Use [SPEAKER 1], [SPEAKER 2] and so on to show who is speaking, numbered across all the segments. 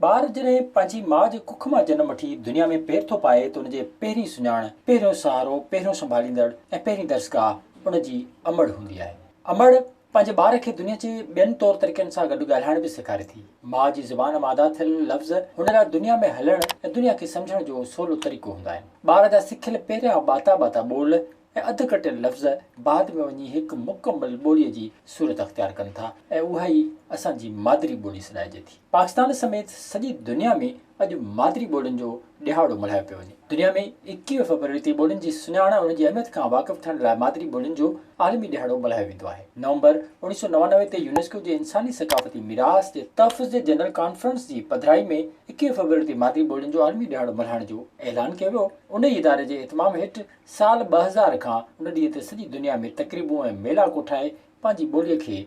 [SPEAKER 1] ٻار جڏهن پنهنجي ماء جي ڪک مان جنم وٺي دنيا ۾ پير ٿو پائي ته ان جي پهرين سڃاڻ، پهريون سهارو، پهريون سنڀاليندڙ ۽ پهرين درسگاهه ان جي امڙ هوندي آهي. امڙ پنهنجي ٻار کي دنيا جي ٻين طور طريقن سان گڏ ڳالهائڻ به سيکاري ٿي. ماء جي زبان مان ادا ٿيل لفظ هن لاء دنيا ۾ هلڻ ۽ دنيا کي سمجهڻ جو سولو طريقو هوندا آهن. ٻار جا سکيل پهريان ٻاتا ٻاتا ٻول ۽ اڌ ڪٽيل لفظ بعد ۾ وڃي هڪ مڪمل ٻوليء جي صورت اختيار ڪن ٿا ۽ اها ئي اسان جي مادري ٻولي سڏائجي ٿي. پاڪستان سميت سڄي دنيا ۾ اڄ مادري ٻولين جو ڏهاڙو ملهايو پيو وڃي. دنيا ۾ ايڪيهه فيبروري تي ٻولين جي سڃاڻ ۽ ان جي اهميت کان واقف ٿيڻ لاء مادري ٻولين جو عالمي ڏهاڙو ملهايو ويندو آهي. نومبر اوڻيهه سؤ نوانوي تي يونيسڪو جي انساني ثقافتي ميراث جي تحفظ جي جنرل ڪانفرنس جي پڌرائي ۾ ايڪيهه فيبروري تي مادري ٻولين جو عالمي ڏهاڙو ملهائڻ جو اعلان ڪيو ويو. انهيء اداري جي اهتمام هيٺ سال ٻه هزار کان ان ڏينهن تي سڄي دنيا ۾ تقريبون ۽ ميلا ڪوٺائي پنهنجي ٻوليء کي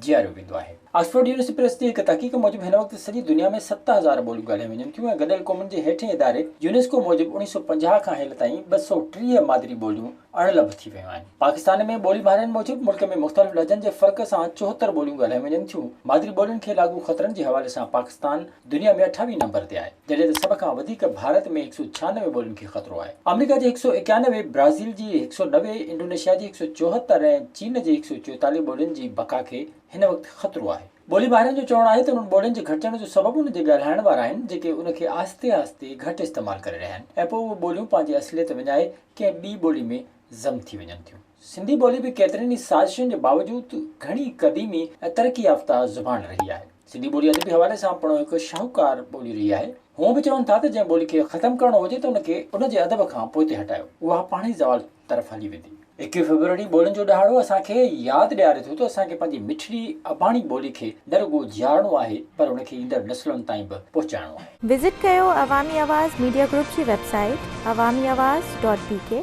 [SPEAKER 1] جياريو ويندو آهي. آڪسفورڊ يونيورسٽي پريس جي هڪ تحقيق موجب هن وقت سڄي دنيا ۾ ست هزار ٻوليون ڳالهايون وڃن ٿيون ۽ گڏيل قومن جي هيٺين اداري يونيسڪو موجب اڻيهه سؤ پنجاهه کان هيل تائين ٻه سؤ ٽيهه مادري ٻوليون اڻ لڀ ٿي ويون آهن. پاڪستان ۾ ٻولي ماهرن موجب ملڪ ۾ مختلف لهجن جي فرق سان چوهتر ٻوليون ڳالهايون وڃن ٿيون. مادري ٻولين کي لاڳو خطرن جي حوالي سان پاڪستان، دنيا ۾ اٺاويهين نمبر تي آهي، جڏهن ته سڀ کان وڌيڪ ڀارت ۾ هڪ سؤ ڇهانوي ٻولين کي خطرو آهي. آمريڪا جي هڪ سؤ ايڪانوي، برازيل جي هڪ سؤ نوي، انڊونيشيا جي هڪ سؤ چوهتر ۽ چين جي هڪ سؤ چوئيتاليهه ٻولين جي بقا کي هن وقت خطرو آهي. ٻولي ماهرن جو چوڻ آهي ته انهن ٻولين جي گهٽجڻ جو سبب ان جي ڳالهائڻ وارا آهن، جيڪي ان کي آهستي آهستي گهٽ استعمال ڪري رهيا آهن ۽ پوء اهي ٻوليون پنهنجي اصليت وڃائي ڪنهن ٻي ٻولي ۾ ضم ٿي وڃن ٿيون. سنڌي ٻولي به ڪيترين ئي سازشن جي باوجود گهڻي قديمي ۽ ترقي يافته زبان رهي آهي. سنڌي ٻولي ادبي حوالي سان پڻ هڪ شاهوڪار ٻولي رهي آهي. هونء به چون ٿا ته جنهن ٻولي کي ختم ڪرڻو هجي ته ان کي ان جي ادب کان پوئتي هٽايو، اها پاڻ ئي زوال طرف هلي ويندي. ايڪوهين فيبروري ٻولين جو ڏهاڙو اسان کي ياد ڏياري ٿو ته اسان کي پنهنجي مٺڙي اباڻي ٻولي کي نه رڳو جيارڻو آهي پر ان کي ايندڙ نسلن تائين به پهچائڻو آهي. وزٽ
[SPEAKER 2] ڪيو عوامي
[SPEAKER 1] آواز
[SPEAKER 2] ميڊيا گروپ جي web site Awami
[SPEAKER 1] Awaz
[SPEAKER 2] dot بي ڪي.